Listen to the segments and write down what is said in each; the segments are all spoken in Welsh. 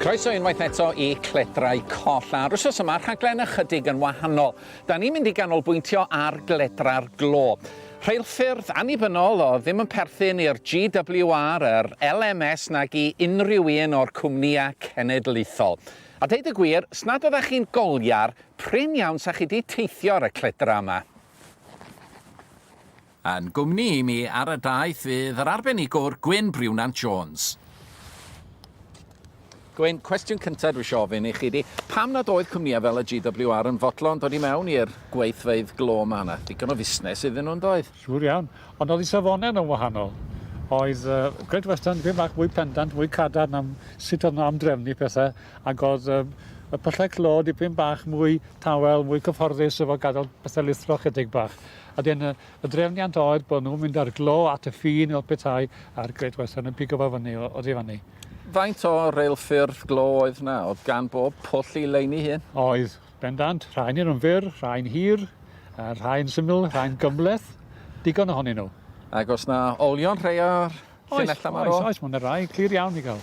Croeso unwaith eto i Cledrau Coll, a'r wsos yma rhaglen ychydig yn wahanol. Da ni'n mynd i ganolbwyntio ar gledra'r glo. Rheilffyrdd annibynnol oedd ddim yn perthyn i'r GWR, yr LMS nag i unrhyw un o'r cwmnïau cenedlaethol. A deud y gwir, os nad oeddech chi'n goliar, prin iawn sa chi 'di teithio ar y cledra yma. Yn gwmni i mi ar y daith fydd yr arbenigwr Gwyn Briwnant Jones. Gwyn, cwestiwn cyntaf dwi eisiau ofyn i chi di, pam nad oedd cwmnïau fel y GWR yn fodlon dod i mewn i'r gweithfeydd glo ma yna? Digon o fusnes iddyn nhw'n doedd? Siŵr iawn, ond oedd i safonau nhw'n wahanol. Oedd uh, Great Western dipyn bach mwy pendant, mwy cadar na sut oedd nhw am drefnu pethau, ac oedd uh, y pyllau clo dipyn bach mwy tawel, mwy cyfforddus efo gadael pethau lithro chydig bach. A wedyn y, y drefniant oedd bod nhw'n mynd ar glo at y ffin i petai a'r Great Western yn pigo fo fyny o, o ddifan ni. Faint o reilffyrdd glo oedd na? Oedd gan bob pwll i leini hun? Oedd, bendant. Rhain yn fyr, rhain hir, a rhain syml, rhain gymleth. Digon ohonyn nhw. Ac os na olion rhai o'r llinellau yma? Oes, oes, oes, mae yna rai clir iawn i gael.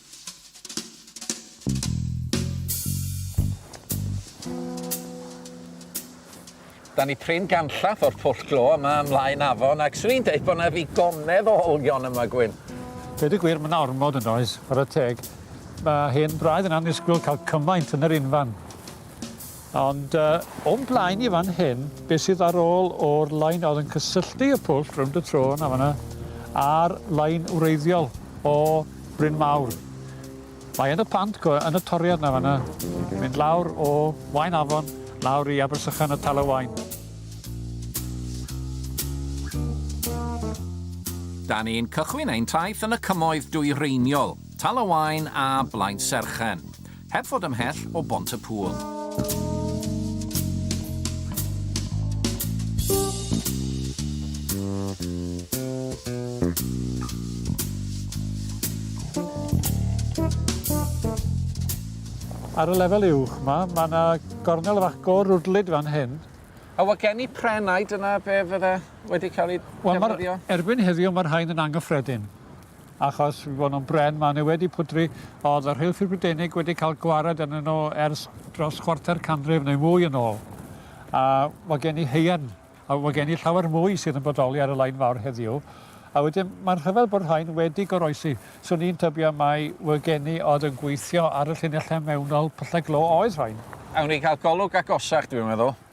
Da ni prin ganllath o'r pwll glo yma ymlaen afon ac swn i'n deud bod 'na ddigonedd o olion yma, Gwyn. Deud y gwir, mae 'na ormod yn does, chwarae teg. Mae hen braidd yn annisgwyl cael cymaint yn yr unfan. Ond o'n blaen i fan hyn, be' sydd ar ôl o'r lein o'dd yn cysylltu y pwll rownd y trô 'na fan 'na a'r lein wreiddiol o Bryn Mawr. Mae yn y pant go- yn y toriad 'na fan 'na, mynd lawr o Waun Afon lawr i Abersychan a Tal y Waun. Da ni'n cychwyn ein taith yn y cymoedd dwyreiniol, Tal y Waun a Blaenserchen. Heb fod ymhell o Bont y Pŵl. Ar y lefel uwch 'ma, ma' 'na gornel fach go-rwdlyd fan hyn. A odd gen i pren ai dyna be' fydde wedi ca'l 'i ddefnyddio? Wel ma'r... Erbyn heddiw ma'r rhain yn angyffredin. Achos fi fod yn bren, mae hynny wedi pwdri. Oedd y Rheilffyrdd Brydeinig wedi cael gwared arnyn nhw ers dros chwarter canrif neu mwy yn ôl. A mae gen i haearn, a mae gen i llawer mwy sydd yn bodoli ar y Lain Fawr heddiw. A wedyn, mae'n rhyfedd bod rhain wedi goroesi. Swn i'n tybio mai fy geni oedd yn gweithio ar y llinellau mewnol pyllau glo oedd rhain. Awn ni gael golwg agosach, dwi'n meddwl.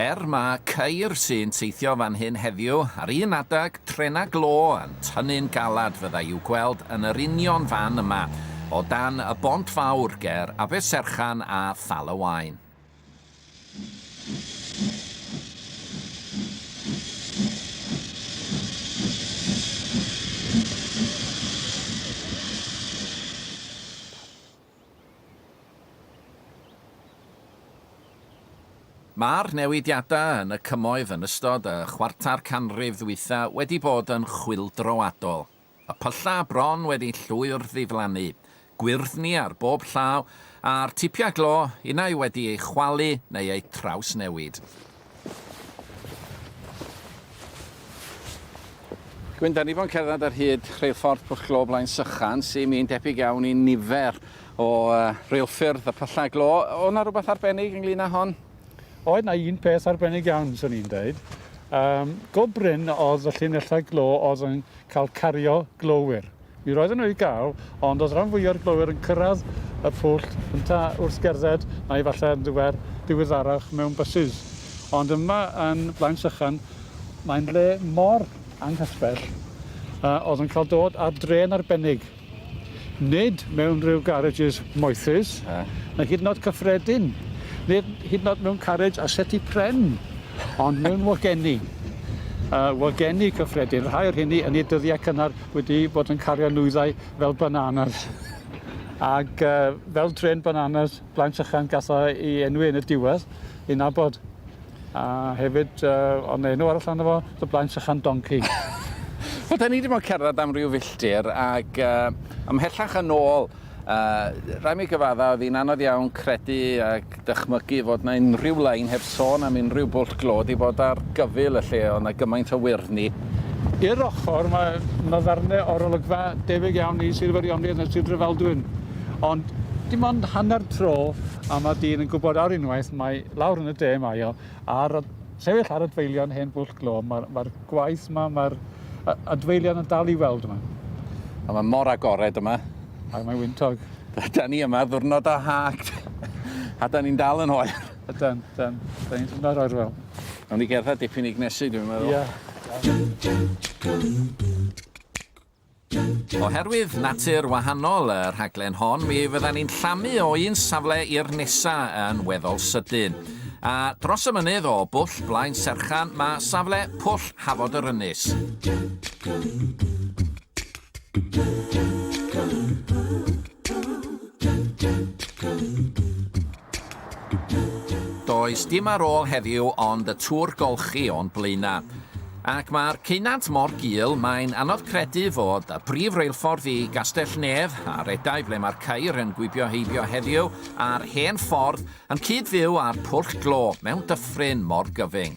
Er mae ceir sy'n teithio fan hyn heddiw, ar un adeg, trenau glo yn tynnu'n galed fyddai i'w gweld yn yr union fan yma, o dan y bont fawr ger Aberserchan a Thal y Waun. Mae'r newidiadau yn y Cymoedd yn ystod y chwarter canrif ddwytha wedi bod yn chwyldroadol. Y pyllau bron wedi llwyr ddiflannu, gwyrddni ar bob llaw, a'r tipiau glo, unai wedi eu chwalu neu eu trawsnewid. Gwyn, da ni fo'n cerdded ar hyd rheilffordd Pwll Glo Blaen Sychan, sy'n un debyg iawn i nifer o uh, reilffyrdd y Pyllau Glo. O na rhywbeth arbennig ynglyn â hon? Oedd na un peth arbennig iawn, swn i'n dweud. Um, go bryn oedd y llinellau glo oedd yn cael cario glowyr. Mi roedden nhw i gael, ond oedd rhan fwya'r glowyr yn cyrraedd y pwll cynta wrth gerdded neu falle yn ddiwer diweddarach mewn bysus. Ond yma yn Blaen Sychan mae'n le mor anghysbell a oedd yn cael dod ar drên arbennig. Nid mewn rhyw garages moethus, na hyd yn oed cyffredin, nid hyd yn oed mewn carriage â seti pren, ond mewn wagenni. Yy wagenni cyffredin, rhai o'r rheini yn eu dyddiau cynnar wedi bod yn cario nwyddau fel bananas ag yy fel trên bananas Blaen Llachlan gath o ei enwi yn y diwedd ei nabod a hefyd yy o' 'na enw arall arno fo The Blaen Llachlan Donkey. Wel 'dan ni 'di bod yn cerddad am ryw filltir ag yy ymhellach yn ôl A rhaid mi gyfadda, oedd hi'n anodd iawn credu ac dychmygu fod na unrhyw lein heb sôn am unrhyw bwll glo 'di bod ar gyfyl y lle, oedd na gymaint o wyrni. I'r ochr, mae na ddarne o'r olygfa debyg iawn i Sir Feirionydd na Sir Drefaldwyn, ond dim ond hanner tro a ma dyn yn gwbod ar unwaith mai lawr yn y de mae o. Ar y sefyll ar adfeilion hen bwll glo, mae'r ma gwaith yma, mae'r adfeilion yn dal i weld yma. A mae mor agored yma. A mae wyntog. Da ni yma ddwrnod o hact. a da ni'n dal yn hoel. Ydan, ydan. Da ni'n ddwrnod oer fel. Nawn ni gerdded dipyn i gnesu dwi'n meddwl. Ie. Yeah. Oherwydd natur wahanol y rhaglen hon, mi fyddan ni'n llamu o un safle i'r nesa yn weddol sydyn. A dros y mynydd o Bwll Blaen Serchan mae safle Pwll Hafod yr Ynys. Does dim ar ôl heddiw ond y tŵr golchi o'n blaenau. Ac mae'r ceunant mor gul, mae'n anodd credu fod y brif reilffordd i Gastell-nedd, a redai ble mae'r ceir yn gwibio heibio heddiw, a'r hen ffordd, yn cyd-fyw â'r pwll glo, mewn dyffryn mor gyfyng.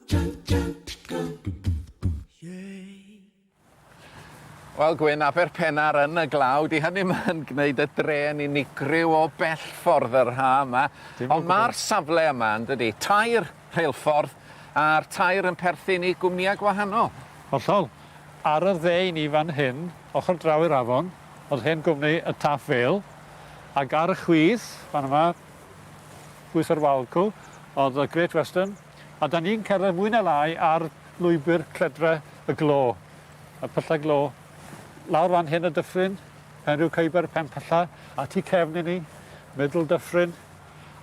Wel Gwyn, Aberpennar yn y glaw, 'di hynny 'm yn gneud y dre yn unigryw o bell ffordd yr ha' 'ma. Dim o gwbwl. Ond ma'r safle yma yndydi? Tair rheilffordd a'r tair yn perthyn i gwmnïe gwahanol. Hollol. Ar y dde i ni fan hyn, ochor draw i'r afon, o'dd hen gwmni y Taff Vale, ag ar y chwith fan yma, chwith yr Wawr 'cw, o'dd y Great Western, A 'dan ni'n cerdded mwy na lai ar lwybr cledra y glo, y pyllau glo, lawr fan hyn y dyffryn, Penrhiw Caeber, Penpylla, a tu cefn i ni, Middle Dyffryn,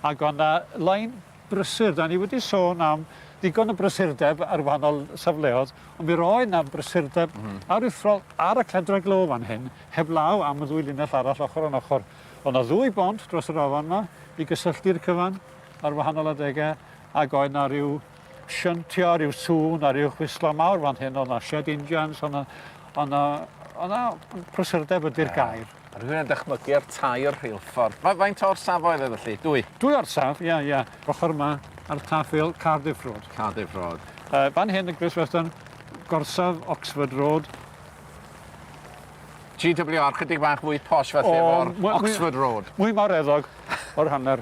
ac o' 'na lein brysur, 'dan ni wedi sôn am ddigon o brysurdeb ar wahanol safleodd, ond mi roedd 'na brysurdeb aruthrol ar y cledra glo fan hyn, heblaw am y ddwy linell arall ochor yn ochor. O' 'na ddwy bont dros yr afon 'ma i gysylltu'r cyfan ar wahanol adege, Ac oedd 'na ryw shuntio, ryw sŵn a ryw chwislo mawr fan hyn, oedd 'na shed injans, oedd 'na oedd 'na oedd 'na prysurdeb ydi'r yeah. gair. A rwy'n yn dychmygu ar tair rheilffordd. Fa faint o'r safoedd oedd felly? Dwy? Dwy o'r saf, ie, yeah, ie. Yeah. Ochr yma ar taffel Cardiff Road. Cardiff Road. Uh, fan hyn y Gris Western, gorsaf Oxford Road, GWR, chydig bach mwy posh falle o'r Oxford Road. Mwy mawr eddog o'r hanner.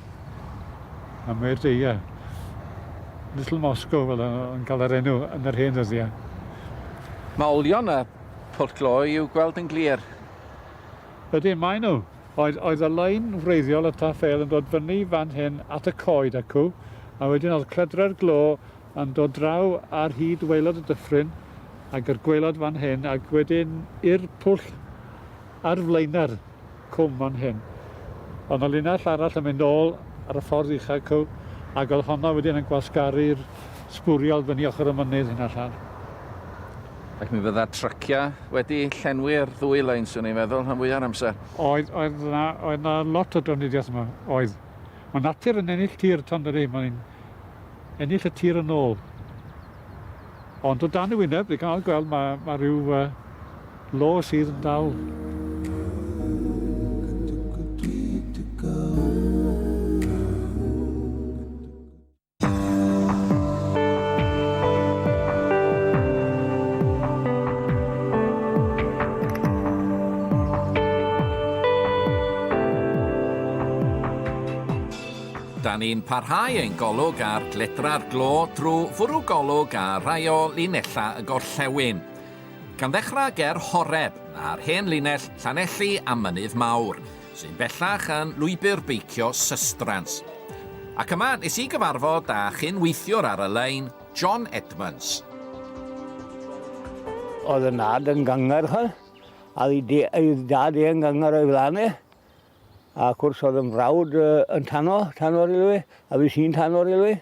A mae dy, ia, Little Moscow fel o- o'n cael yr enw yn yr hen ddyddiau. Mae olion y pwll glo i'w gweld yn glir. Ydyn, maen nhw. Oedd, oedd y lein wreiddiol y taffél yn dod fyny fan hyn at y coed acw, a wedyn oedd cledre'r glo yn dod draw ar hyd waelod y dyffryn, ag yr gwaelod fan hyn, ac wedyn i'r pwll ar flaenau'r. cwm fan hyn. Oedd 'na linell arall yn mynd ôl ar y ffordd ucha cyw, ac oedd honna wedyn yn gwasgaru'r sbwriel fyny ochr y mynydd hyn allan. Ac mi fydda trycia wedi llenwi'r ddwy lein, swn i'n meddwl, rhan fwya'r amser. Oedd, oedd 'na, oedd 'na lot o drafnidiaeth yma, oedd. Ma' natur yn ennill tir, t'o' yndydi? Mae'n yn ennill y tir yn ôl. Ond o dan y wyneb, dwi gallu gweld ma' ma' ryw yy Lo sydd dal. Da ni'n parhau ein golwg ar gledra'r glo drwy fwrw golwg ar rai o linellau y gorllewin. Gan ddechrau ger Horeb, ar hen linell Llanelli a Mynydd Mawr, sy'n bellach yn lwybr beicio Sustrans. Ac yma nes i gyfarfod â chyn-weithiwr ar y lein, John Edmunds. Oedd y nad yn gyngerchol, a oedd ei dad i yn gynger o'i flan e. Ac wrs oedd yn frawd yn tano, tano rili, a fi sy'n tano rili.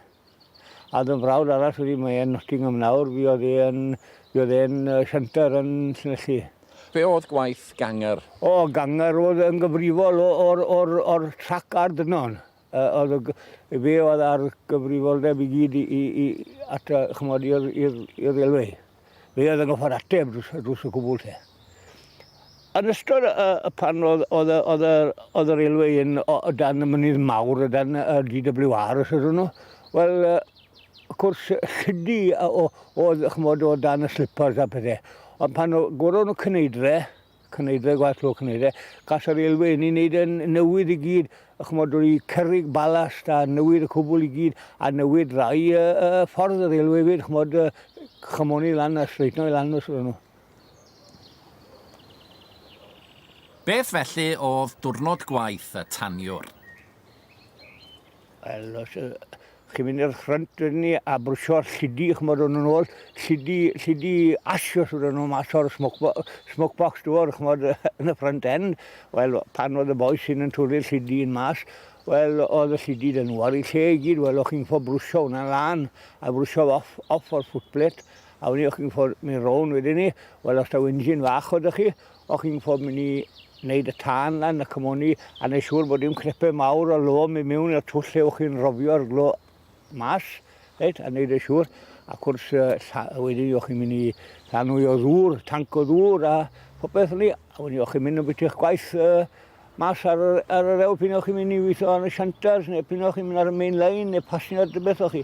A dy frawd arall wedi mae yn Nottingham nawr fi oedd e yn fi oedd e'n sianter yn Llanelli. Be oedd gwaith Ganger? O Ganger oedd yn gyfrifol o o'r o'r o'r trac a'r dynon. Yy oedd y g- fe oedd a'r gyfrifoldeb i gyd i i i at y ch'mod i'r i'r i'r railway. Fe oedd yn goffa'r ateb drws, drws y cwbl te. Yn ystod y, y pan oedd, oedd, oedd, oedd yr aelwy yn o, o dan y mynydd mawr, o dan y DWR os ydyn nhw, wel, y cwrs llidi oedd, chymod, o dan y slippers a pethau. Ond pan goron nhw cyneidre, Cneidre, gwaith clo cneidre. Gall yr elfenni wneud yn newydd i gyd, chymod, roi cerrig balast a newid y cwbl i gyd, a newid rai y, y ffordd yr elw hefyd, chymod, chymoni lan a streitno i lan os ydyn nhw. Beth felly oedd diwrnod gwaith y taniwr? Wel, os yy chi'n mynd i'r ffrynt wedyn ni a brwsio'r llidi, ch'mod, o'n nhw'n ôl, llidi, llidi ash os wedyn nhw mas o'r smoke bo- smoke box door, ch'mod, yn y front end. Wel, pan oedd y bois hyn yn twli'r llidi hyn mas, wel, oedd y llidi 'da nhw ar eu lle i gyd. Wel, o'ch chi'n ffo brwsio hwnna lan a frwsio fe off, off o'r footplate, a wedyn ni o'ch chi'n ffo mynd rownd wedyn ni. Wel, os taw engine fach oedd 'da chi, O'ch chi'n gwybod mynd i wneud y tân lan y cymoni a wneud siŵr bod dim crepau mawr o lo mynd mewn i'r twll lle o'ch chi'n rhofio'r glo mas, reit, a wneud yn siŵr. Ac wrth wedyn o'ch chi'n mynd i llanwy o ddŵr, tanc o ddŵr a phopeth ni, a wedyn o'ch chi'n mynd yn bit i'ch gwaith uh, mas ar, ar yr ewl pyn o'ch chi'n mynd i weithio yn y siantars neu pyn o'ch chi'n mynd ar y main line neu passenger dy beth o'ch chi.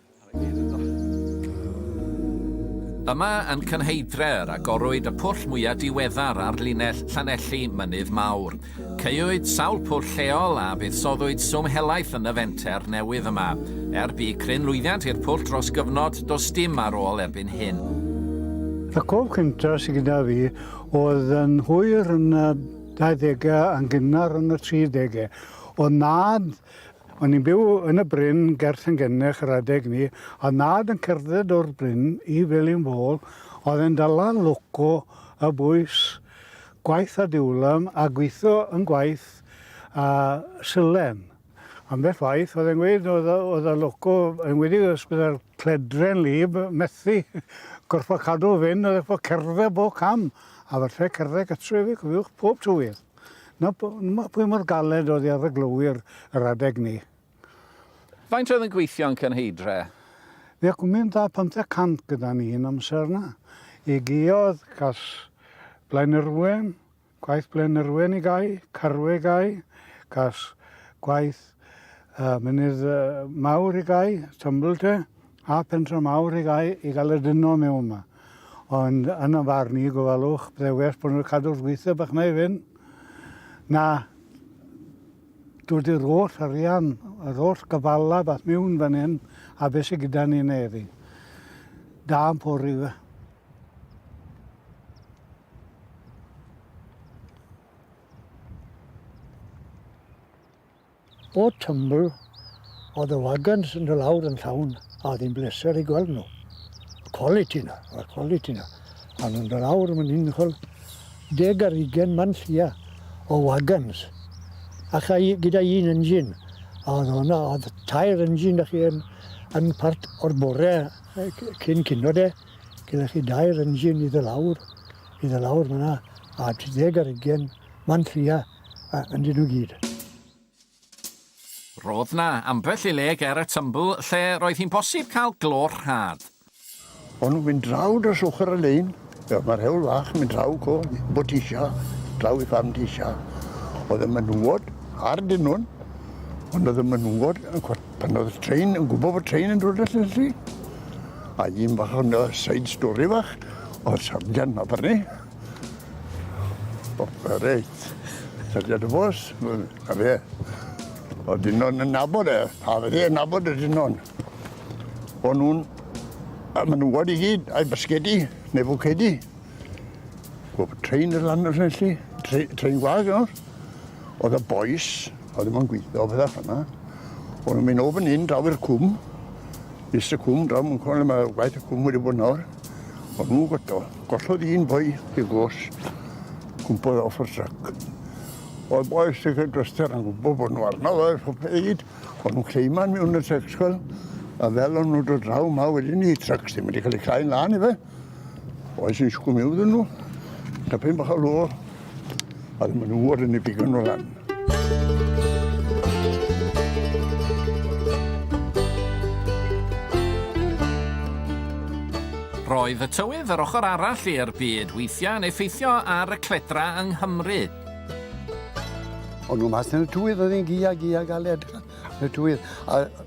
Yma yn Cynheidref agorwyd y pwll mwyaf diweddar ar linell Llanelli Mynydd Mawr. Caewyd sawl pwll lleol a fuddsoddwyd swm helaeth yn y fenter newydd yma. Er bu cryn lwyddiant i'r pwll dros gyfnod, does dim ar ôl erbyn hyn. Y cof cyntaf sydd gyda fi oedd yn hwyr yn y 20au a'n gynnar yn y 30au. Oedd nhad O'n ni'n byw yn y bryn ger Llangennech yr adeg 'ny, a o'dd nhad yn cerdded o'r bryn i Felinfôl, o'dd e'n dala loco y bwys, gwaith a diwlem, a gwitho yn gwaith a silen. Ambell waith o'dd e'n gweud o'dd y o'dd y loco, enwedig os bydde'r cledre'n wlyb, methu gorffod cadw fyn, o'dd e 'fo cerdded bob cam, a falle cerdded gytre efyd cofiwch, pob tywydd. Na, pwy mor galed oedd hi ar y glowyr yr adeg 'ny. Faint oedd yn gweithio yn Cynheidre? Fe cwmint â phymtheg cant gyda ni un amser 'na. I Guiodd cas Blaenyrwen, gwaith Blaenyrwen i gau, Carwe i gau, cas gwaith uh, Mynydd uh, Mawr i gau, Tumbleton, a Pentra Mawr i gau i gael y dyno mewn 'ma. Ond yn y farn i, gofalwch, byddai well bod nhw wedi cadw'r gweithio bach yna i fynd na dod i'r holl arian, yr holl gyfalaf at miwn fan hyn, a beth sydd gyda ni yna heddi. Da yn pori yw e. O Tumbl oedd y wagons yn dod lawr yn llawn a oedd hi'n bleser eu gweld nhw. Y quality 'na, y quality 'na. A nhw'n dod lawr yn unigol, deg ar hugain man llia o wagons a cha i gyda un engine a oedd hwnna, oedd tair engine 'da chi yn yn part o'r bore cyn cino de, gyda chi dair engine i dod lawr, i dod lawr fanna a deg ar hugain man llia. a yn dyn nhw gyd. Roedd na ambell i le ger y tymbl lle roedd hi'n bosib cael glo rhad. O'n nhw'n mynd draw dros ochr y lein, fel mae'r hewl fach yn mynd draw co, bod ti isio, draw i fam ti isio. Oedd y menywod ar dyn nhw'n, ond oedd y menywod, pan oedd y train, yn gwybod bod train yn dod at y A un bach o'n side story fach, oedd sarjan na barni, O reit. Sefydliad y bws m- a fe. O'dd Dinon yn nabod e a fe yn nabod y Dinon. O'n nw'n a menywod i gyd a'i basgedi neu fwcedi. Wel bu trên yn lando rhe- 'lly. Tre- trên gwag o. O'dd y bois o'dd ddim yn gwitho petha fel 'na. O'n nw'n myn' o fyn 'yn draw i'r cwm. Iste cwm draw mewn cwm le ma' gwaith y cwm wedi bod nawr. O'n nhw godo. Gollodd un boi i glos gwmpodd off y truck. Oedd boi sy'n cael droster yn gwybod bod nhw arno fe, popeth i gyd. O'n nhw'n cleiman mewn y truck sgol. A fel o'n nhw'n dod draw ma wedyn ni, trucks ddim wedi cael ei clai'n lan i fe. Oes yn siwgwm iw ddyn nhw. Tapyn bach o lô Oedd maen nhw yn y bigon o lan. Roedd y tywydd yr ochr arall i'r byd weithiau yn effeithio ar y cledra yng Nghymru. Ond nhw mas yn y tywydd, oedd hi'n gia, gia galed. Y tywydd. A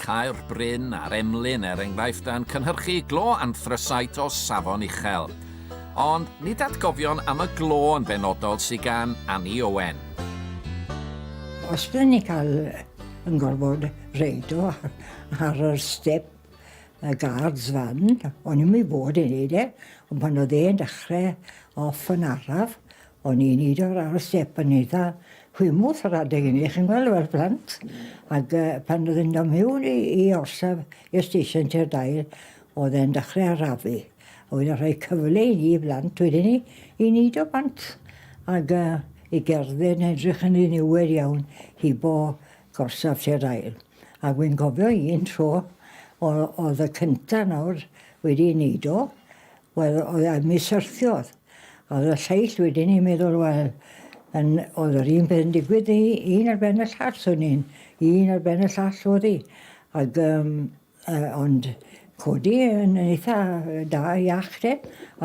Caer Bryn a'r Emlyn, er enghraifft, yn cynhyrchu glo anthrasait o safon uchel. Ond nid atgofion am y glo yn benodol sydd gan Annie Owen. Os dyn ni cael yn gorfod reido ar yr step y guards fan, o'n i'm i fod yn neud e, ond pan oedd e'n dechrau off yn araf, O'n i'n neud o lawr y step yn eitha hwymws yr adeg ynny chi'n gweld fel plant ag yy pan o'dd e'n do' miwn i i orsaf i'r stesion tua'r dair o'dd e'n dechre arafu a wedyn rhoi cyfle i ni blant wedyn 'ny i neud o bant ag yy i gerdded yn edrych yn ddiniwed iawn hibo gorsaf tua'r ail ag wi'n cofio un tro o- o'dd y cynta nawr wedi neud o Wel, oedd a mi syrthiodd. Oedd y lleill wedyn i'n meddwl, wel, yn, oedd yr un peth yn digwydd i un ar ben y llall, swn i'n un ar ben y llall oedd hi. Ac, um, uh, ond codi yn eitha da iach de,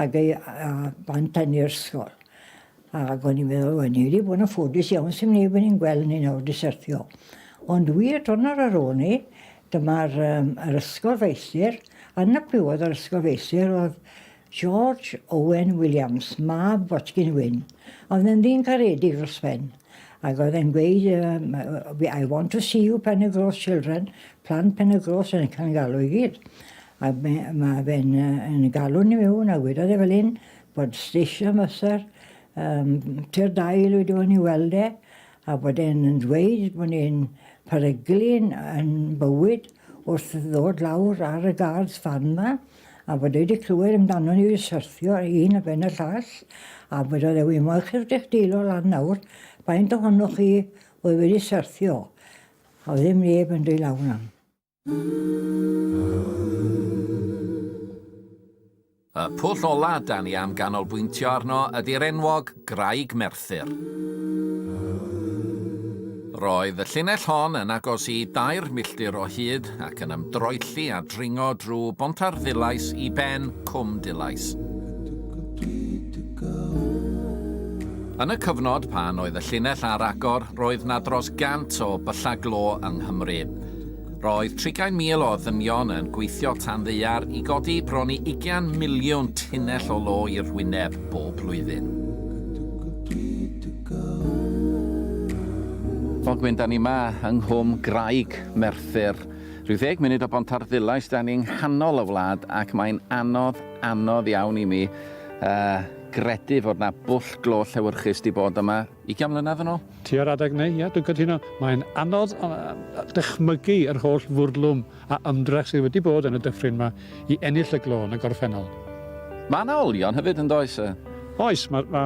ac ei, a, bant yn i'r ysgol. Ac o'n i'n meddwl, wel, ni wedi bod yn ffodus iawn, sdim neb yn ein gweld ni nawr, di syrthio. Ond wir, dwrnod ar ôl ni, dyma'r um, yr ysgol feistr, yn y plywodd yr ysgol feistr oedd George Owen Williams, mab Botgyn Wyn. Oedd yn ddyn caredig dros ben. Ac oedd e'n gweud, um, I want to see you pen y gros children, plant pen y gros yn cael galw i gyd. A mae fe'n uh, galw ni mewn a wedodd e fel hyn, Bod station master yym tua dair wedi bod i weld e a bod e'n yn dweud bod e'n peryglun yn bywyd wrth ddod lawr ar y guards fan 'ma a bod e wedi clywed amdano ni wedi syrthio un ar ben y llall a bod o ddeud wi mo'ch chi'ch dechdeilo lan nawr faint ohonoch chi oedd wedi syrthio a oedd ddim neb yn deu law 'na. Y pwll ola' 'da ni am ganolbwyntio arno ydi'r enwog Graig Merthyr. Roedd y llinell hon yn agos i dair milltir o hyd ac yn ymdroelli a dringo drwy Bontarddulais i ben Cwm Dulais. Yn y cyfnod pan oedd y llinell ar agor roedd 'na dros gant o byllau glo yng Nghymru. Roedd 30,000 o ddynion yn gweithio tan ddaear i godi bron i ugian miliwn tunnell o lo i'r wyneb bob blwyddyn. Ogwen, da ni 'ma yng Nghwm Graig, Merthyr. Rhyw ddeg munud o Bontarddulais, da ni yng nghanol y wlad ac mae'n anodd, anodd iawn i mi yy gredu fod 'na bwll glo llewyrchus 'di bod yma. Ugian mlynedd yn ôl? Ti ar adeg neu? Ia, dwi'n cytuno. Mae'n anodd dychmygu yr holl fwrlwm a ymdrech sydd wedi bod yn y dyffryn ma i ennill y glo yn y gorffennol. Mae yna olion hefyd, yn does? Oes, mae ma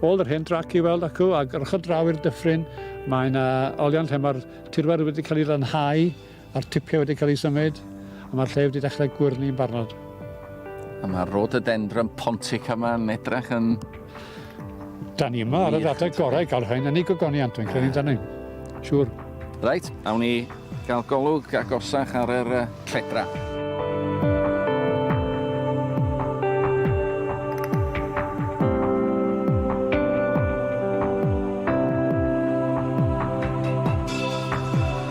ôl yr hen drac i weld acw ag yr ochr draw i'r dyffryn, mae yna olion lle mae'r tirwedd wedi cael ei lanhau, Mae'r tipiau wedi cael eu symud, a mae'r lle wedi dechrau gwyrnu'n barnod. A mae Rhododendron pontica yma'n edrach yn... Da ni yma ar y ddata gorau i gael rhain yn ei gogoniant, dwi'n credu dan ni. Siwr. Reit, awn ni gael golwg agosach ar yr uh, cledra.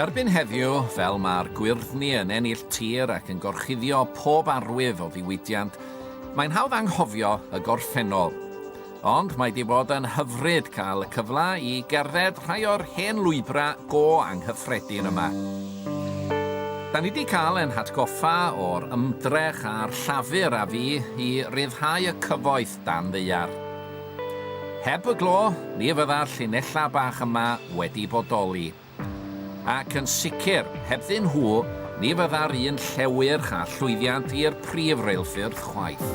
Erbyn heddiw, fel mae'r gwyrddni yn ennill tir ac yn gorchuddio pob arwydd o ddiwydiant, mae'n hawdd anghofio y gorffennol. Ond mae 'di bod yn hyfryd cael y cyfle i gerdded rhai o'r hen lwybrau go anghyffredin yma. Da ni 'di cael ein hatgoffa o'r ymdrech a'r llafur a fu i ryddhau y cyfoeth dan ddaear. Heb y glo, ni fydda'r llinellau bach yma wedi bodoli. Ac yn sicr, hebddyn nhw, ni fydda'r un llewyrch a llwyddiant i'r prif reilffyrdd chwaith.